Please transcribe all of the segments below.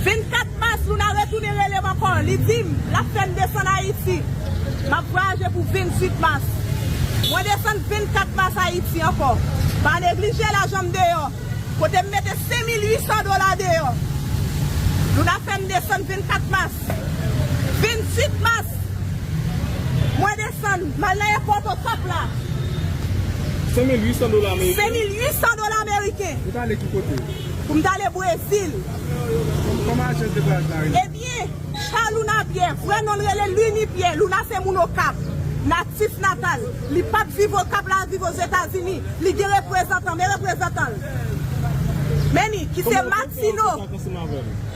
24 mas Luna retounen rele m ankò, li di m l ap fè m desann Ayiti. M ap vwayaje pou 28 mas. Mwen desann 24 mas Ayiti ankò. Pa neglije lajan m deyò, kote m mete 5800 dola deyò. Luna fè m desann 24 mas. 28 mas, mwen desann, m al nan èpòt Okap la. 5800 dola meriken? 5800 dola meriken. Ou t ale ki kote? Pou m t ale Brezil. Kòman ajan de bwaz la rele? Ebyen, Cha Louna Pyè, vrè non l rele Luny Pyè, Louna se moun Okap, natif natal, li pa t viv Okap la viv Ozetazini, li gen reprezantan, men reprezantan l, men ni, ki se Matino. Kòman ou fè kontak ansanm avè l?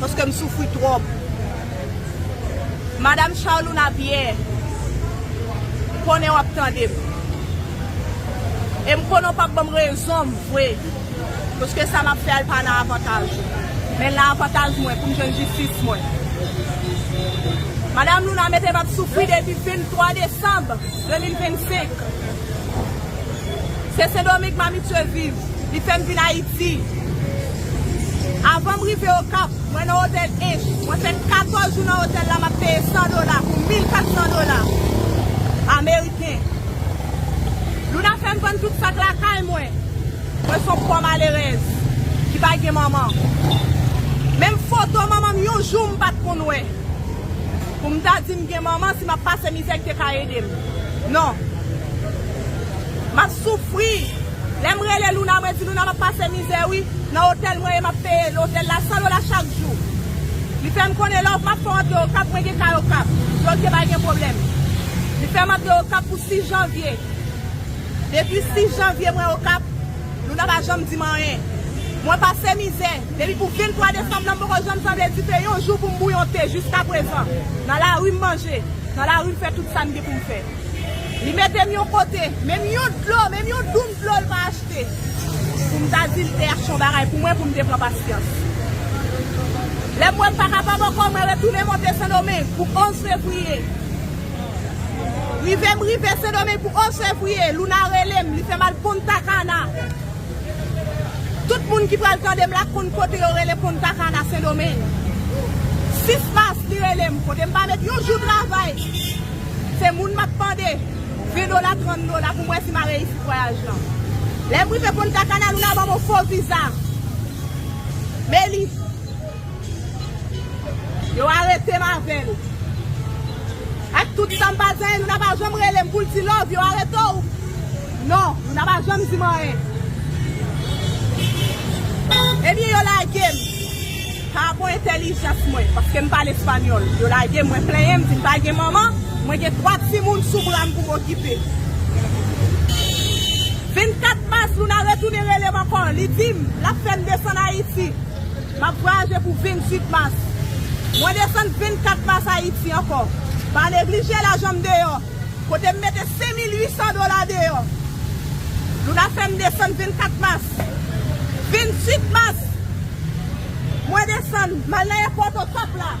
Paske m soufri twòp. Madam Charlouna Pierre, m konnen w ap tande m. E m konnen w pap ban m rezon m vre. Paske sa m ap fè a li pa nan avantaj ou. Men l nan avantaj mwen pou m jwenn jistis mwen. Madam Louna mete m ap soufri depi 23 desanm 2025. Se Sendomeng m abitye viv. Li fè m vin Ayiti. Avan m rive Okap, mwen nan otèl Ench. Mwen fè 14 jou nan otèl la, m ap peye 100 dola pou 1400 dola ameriken. Luna fè m vann tout sak lakay mwen. Mwen s on pò malerèz ki pa gen manman. Menm foto manman m yon jou m pa t konn wè. Pou m ta di m gen manman si m ap pase mizè ki te ka ede m. Non. M ap soufri. Lèm rele Luna mwen di Luna map pase mizè wi nan otèl mwen e map peye otèl la 100 dola chak jou li fèm konnen lè okap fè w antre okap mwen gen kay okap di ok pa gen pwoblèm li fèm antre okap pou 6 janvye depi 6 janvye mwen okap Luna pa janm dim anyen mwen pase mizè depi pou 23 desanm lan m poko janm sanble dife yon jou poum bouyon te jiskaprezan nan lari m manje nan lari m fè tout sam gen poum fè. Li mete m yon kote, menm yon dlo, menm yon doum dlo l pa achte pou m ta di l te achte yon bagay pou mwen pou m te pran pasyans. Lè m wè m pa kapab ankò mwen retounen monte Sendomeng pou 11 fevriye. Rive m rive Sendomeng pou 11 fevriye, Louna rele m, li fè m al Punta Cana. Tout moun ki pral tande m la konn kote yo rele Punta Cana, Sendomeng. 6 mas li rele m, kote m pa met yon jou travay. Se moun map mande 20 dola 30 dola poum wè si ma reyisi vwayaj lan. Lèm rive Punta Cana Luna banm yon fo viza. Melis. Yo aretem avèl. Ak tout sam pa di anyen Luna pa janm relem poul di love yo arete w non Luna pa janm dim anyen. Ebyen yo lagem. Pa bon entelijans mwen, paske m pale espanyòl. Yo lage m, mwen plenyen m, di m pa gen manman, mwen gen 3 timoun sou bra m pou m okipe. 24 mas, Luna retounen rele m ankò, li di m, l ap fè m desann Ayiti. M ap vwayaje pou 28 mas. Mwen desann 24 mas Ayiti ankò. Pa neglije lajan m deyò. Kote m mete 5800 dola deyò. Luna fè m desann 24 mas. 28 mas, mwen desann, m al nan èpòt Okap la.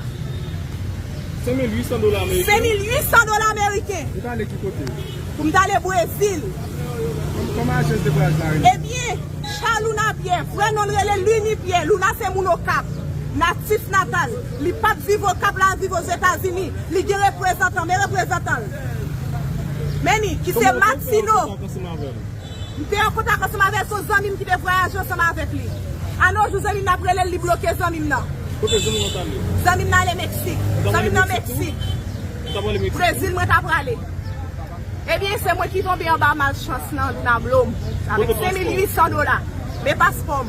5800 dola meriken. 5800 dola meriken. Pou w t ale ki kote? Pou m t ale Brezil. Kòman ajans de vwayaj la rele? Ebyen, Cha Luna Pyè, vrè non l rele Luni Pyè. Luna se moun Okap, natif natal. Li pap viv okap la viv ozetazini li gen reprezantan men reprezantanl meni ki se matino m te an kontak ansanm avèl son zanmim ki te vwayaje ansanm avèk li a no jou zanmim nan ap relel li bloke zanmim nan zanmim nan ale meksik zanmim nan meksik brezil mwen ta prale ebyen se mwen ki tonbe anba malchans nan nan dlo m avèk 5800 dola men paspòm.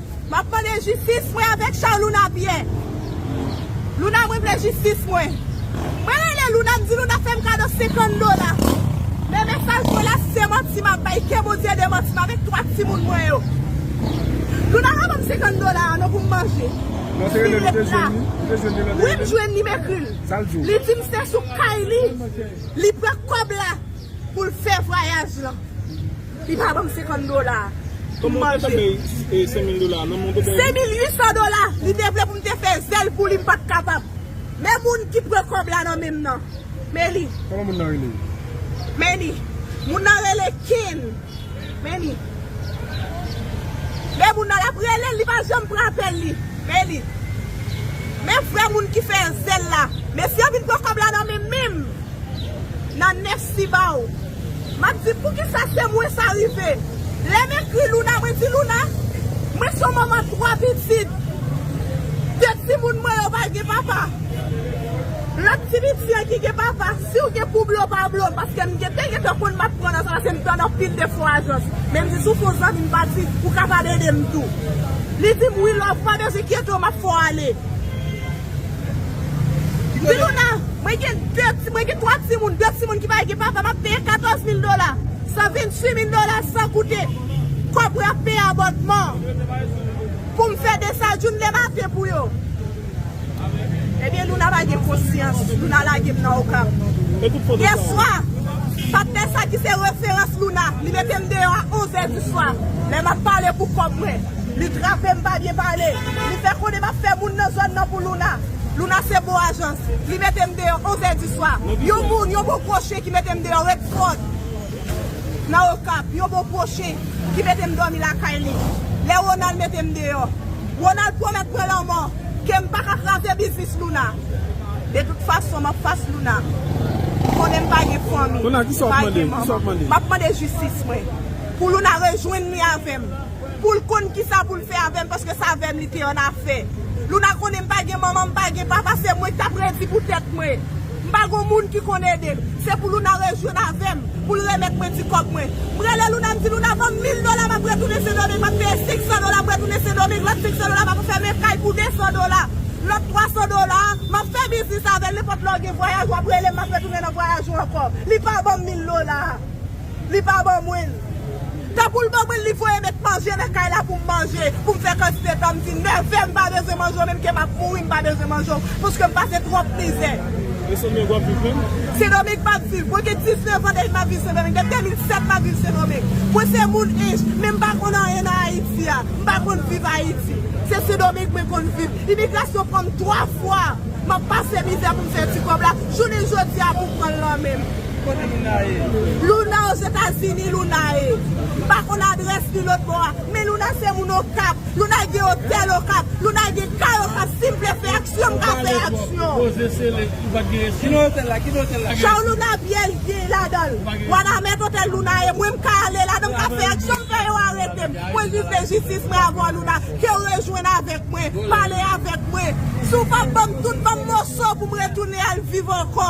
Map mande jistis mwen avèk Charles Luna Pierre Luna mwen vle jistis mwen Mwen rele Luna m di Luna fèm kado 50 dola Men mesaj mwen la se manti map bay Ke Bondye ede m anti m avèk 3 timoun mwen yo Luna pa banm 50 dola a non pou m manje Non se rele l ou te jwenn li Ou te jwenn li nan telefòn Wi m jwenn li m ekri l Li di m se sou kay li Li pran kòb la. Pou l fè vwayaj lan. Li pa banm 50 dola pou m manje. Kòman ou te bay 5000 dola nan men w te bay li? 5800 dola! Li te vle pou m te fè zèl pou li m pat kapab. Men moun ki pran kòb la nan men m nan. Men li. Kòman moun nan rele? Men li. Moun nan rele Ken. Men li. Men moun nan l ap rele l li pa janm pran apèl li. Men li. Men vrè moun ki fè zèl la. Mesye yo vin pran kòb la nan men m menm. Nan nèf si ba ou. M ap di poukisa se mwen sa rive. Lè m ekri Louna mwen di Louna mwen son manman twa pitit. De timoun mwen yo pa gen papa. Lòt ti piti an ki gen papa si w gen pou blo pa blo m paske m gen te gen tan konn m ap pran nan sa paske m tann anpil de fo ajans. Men m di si w fo zanmi m pa di ou kapab ede m tou. Li di m wi love pa bezwen kyete w m ap fè w ale. Filouna, mwen gen 2 ti, mwen gen 3 timoun, 2 timoun ki pa gen papa, m ap peye 14 mil dola, 128 mil dola san koute kòb rap peye abònman pou m fè desajoun le maten pou yo. Ebyen Louna pa gen konsyans, Louna lage m nan Okap. Yè swa, patnè sa ki se referans Louna, li mete m deyò a 11 è di swa, lè m ap pale pou kòb mwen. Li trape m pa byen pale. Li fè konnen m ap fè moun nan zòn nan pou Luna. Luna se bon ajans. Li mete m deyò onzè di swa. Yon moun, yon bon kwoche ki mete m deyò Redford nan Okap. Yon bon kwoche ki mete m dòmi lakay li. Lè Ronald mete m deyò. Ronald pwomèt mwen lanmò ke m pa ka kraze biznis Luna. De tout fason, m ap fas Luna. Ou konnen m pa gen fanmi, m pa gen manman. M ap mande jistis mwen. Pou Luna rejwenn li avè m. Pou l konn kisa pou l fè avè m paske s avè m li te annafè. Louna konnen m pa gen manman, m pa gen papa, se mwen ki t ap redi pou tèt mwen. M pa gen moun ki konn ede m. Se pou Louna rejwenn avè m, pou l remèt mwen ti kòb mwen. M rele Louna, m di Louna ban m mil dola m ap retounen Sendomeng, m ap peye senksan dola pou m retounen Sendomeng, lòt senksan dola m ap fè m yon kay pou desan dola, lòt twasan dola a, m ap fè biznis avè l, nenpòt lè w gen vwayaj w ap rele m, m ap retounen nan vwayaj ou ankò. Li pa ban m mil dola a. Li pa ban mwen l. Tankou l ban mwen l li voye met manje nan kay la pou m manje, pou m fè kantite tan m di l. Nève m pa bezwen manje w menm ke m ap mouri m pa bezwen manje w paske m pase twòp mizè. E Sen Domeng w ap viv menm? Sen Domeng m ap viv. Mwen gen 19 an depi m ap viv Sen Domeng. Depi 2007 m ap viv Sen Domeng. Mwen se moun Ench men m pa konn anyen nan Ayiti a. M pa konn viv Ayiti. Se Sen Domeng mwen konn viv. Imigrasyon pran m 3 fwa. M ap pase mizè pou m fè ti kòb la. Jounen jodi a pou pran l lan men m. Kote Luna ye? Luna ozetazini Luna ye m pa konn adrès li lòt bò a men Luna se moun okap Luna gen otèl okap Luna gen kay okap sim vle fè aksyon m ka fè aksyon Chao Luna pyèj gen ladanl wanament otèl Luna ye mwen m ka ale ladan m ka fè aksyon m fè yo arete m mwen vin fè jistis mwen avèw Luna kew rejwenn avèk mwen pale avèk mwen si w pap banm tout banm moso pou m retounen al viv ankò.